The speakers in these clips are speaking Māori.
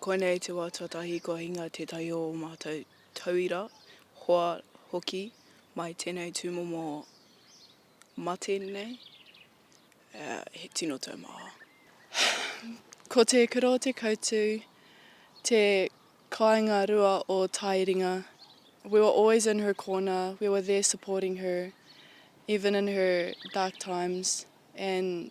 Koinei te wā tuatahi kua hinga tētahi o ō mātou tauira, hoa hoki mai tēnei tūmomo mate nei, he tino taumaha. Ko te kura o te kautū te kāinga rua o Taeringa, we were always in her corner, we were there supporting her, even in her dark times and,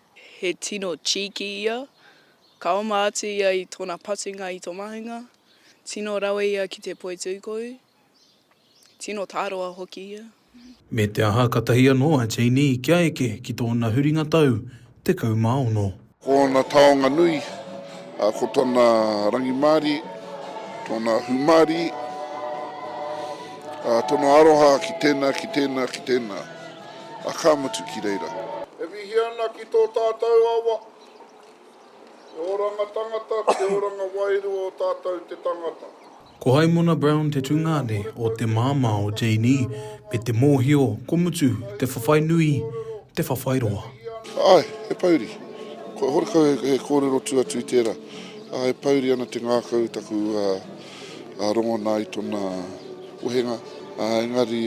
He tino cheeky ia. Ka oma atu ia i tōna patunga i tō mahinga. Tino rawe ia ki te poi tūkohu. Tino tāroa hoki ia. Me te aha katahi anō a Janey kia eke ki tōna huringa tau tekau mā ono. Ko ōna taonga nui, ko tōna rangimārie, tōna hūmārie, tōna aroha ki tēnā, ki tēnā, ki tēnā. A ka mutu ki reira. E mihi ana ki tō tātou awa, te oranga tangata, te oranga wairua o tātou te tangata. Ko Haimona Brown te tungāne o te māmā o Janey me te mōhio ko Mutu te whawhai nui, te whawhai roa. Āe, he pouri. Kua horekau he kōrero tū atu i tērā. Ā, e pouri ana te ngākau taku rongona i tona wehenga, ā, engari.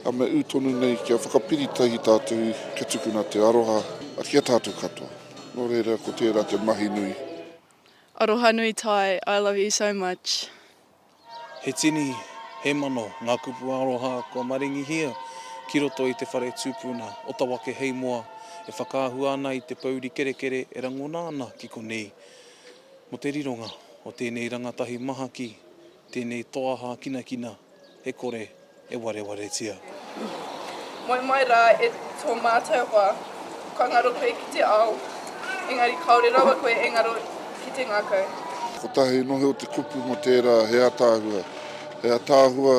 A me ū tonu nei kia whakapiri tahi tātou kia tukuna te aroha ki a tātou katoa. Nō reira ko tērā te mahi nui. Arohanui Ty, I love you so much. He tini, he mano ngā kupu aroha kua maringihia ki roto i te whare tūpuna o Tawake hei moa e whakaahua ana i te pouri kerekere e rangona ana ki konei. Mo te rironga o tēnei rangatahi maha ki. Tēnei toa hākinakina e kore e warewaretia. Moe mai rā e tō mātou hoa, kua ngaro koe ki te ao, engari kāore rawa koe e ngaro ki te ngākau. Kotahi nohe o te kupu mō tērā he ataahua, he ataahua.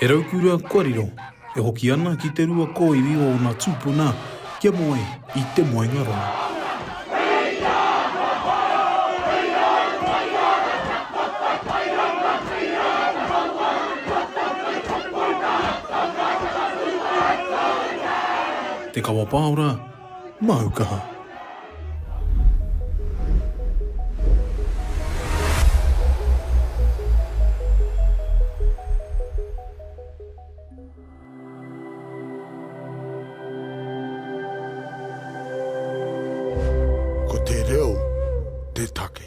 He raukura kua riro, e hoki ana ki te rua kōiwi o ōna tūpuna kia moe i te moenga rongo. Te Kawapāora, Māu kaha. Ko te reo te take.